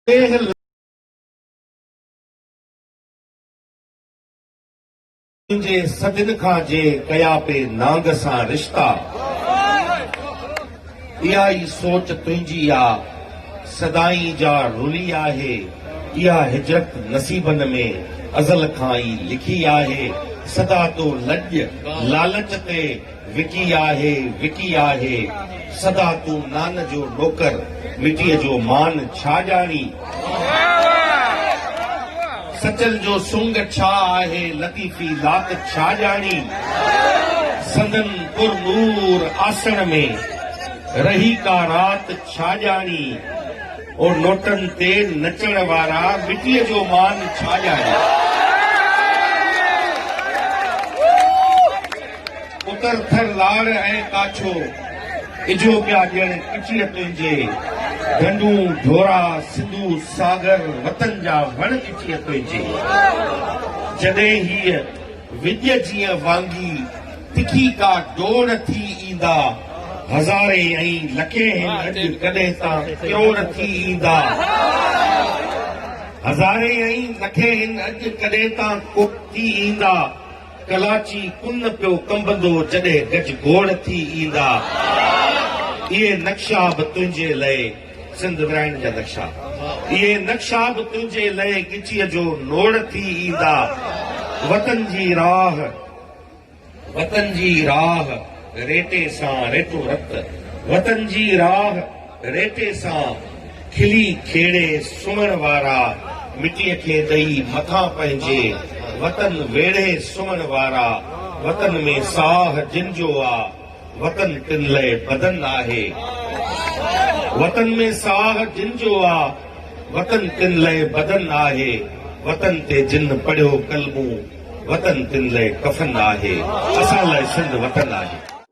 ڪنهن لائين جي صدين کان جي ڪيا پي نانگ سان رشتا اها ئي سوچ تنهنجي آ سدائين جا رلي آهي اها هجرت نصيبن ۾ ازل کان ئي لکي آهي سدا تو لڄ لالچ تي وڪي آهي وڪي آهي سدا تون نان جو نوڪر مٽيء جو مان ڇا ڄاڻين. سچل جو سنگ ڇا آهي لطيفي لات ڇا ڄاڻين. سندن پر نور آسڻ ۾ رهي ڪا رات ڇا ڄاڻين. او نوٽن تي نچڻ وارا مٽيء جو مان ڇا ڄاڻين. پتر ٿر لاڙ ۽ ڪاڇو اجهو پيا ڏيڻ ڪچيء تنهنجي ڍنڍون ڍورا سنڌو ساگر وطن جا وڻ ڪچيء تنهنجي جڏهن هيء وڄ جيئن وانگي تکي ڪا ڊوڙ ٿي ايندا هزارين ۽ لکين هن اڄ ڪڏهن ته ڪروڙ ٿي ايندا هزارين ۽ لکين هن اڄ ڪڏهن ته ڪوڙ ٿي ايندا ڪلاچي ڪن پيو ڪنبندو جڏهن گج گوڙ ٿي ايندا اهي نقشا به تنهنجي لئي سنڌ ورهائڻ جا نقشا اهي نقشا به تنهنجي لئي ڳچيء جو نوڙ ٿي ايندا وطن جي راهه وطن جي راهه ريٽي سان ريٽو رت وطن جي راهه ريٽي سان کلي کيڙي سمهڻ وارا، مٽيء کي ڏئي مٿان پنهنجي وطن ويڙهي سمهڻ وارا، وطن ۾ ساهه جن جو آ، وطن تن لئه بدن آهي. وطن ۾ ساهه جن جو آ، وطن تن لئه بدن آهي، وطن تي جن پڙهيو ڪلمون، وطن تن لئه ڪفن آهي، اسان لاء سنڌ وطن آهي.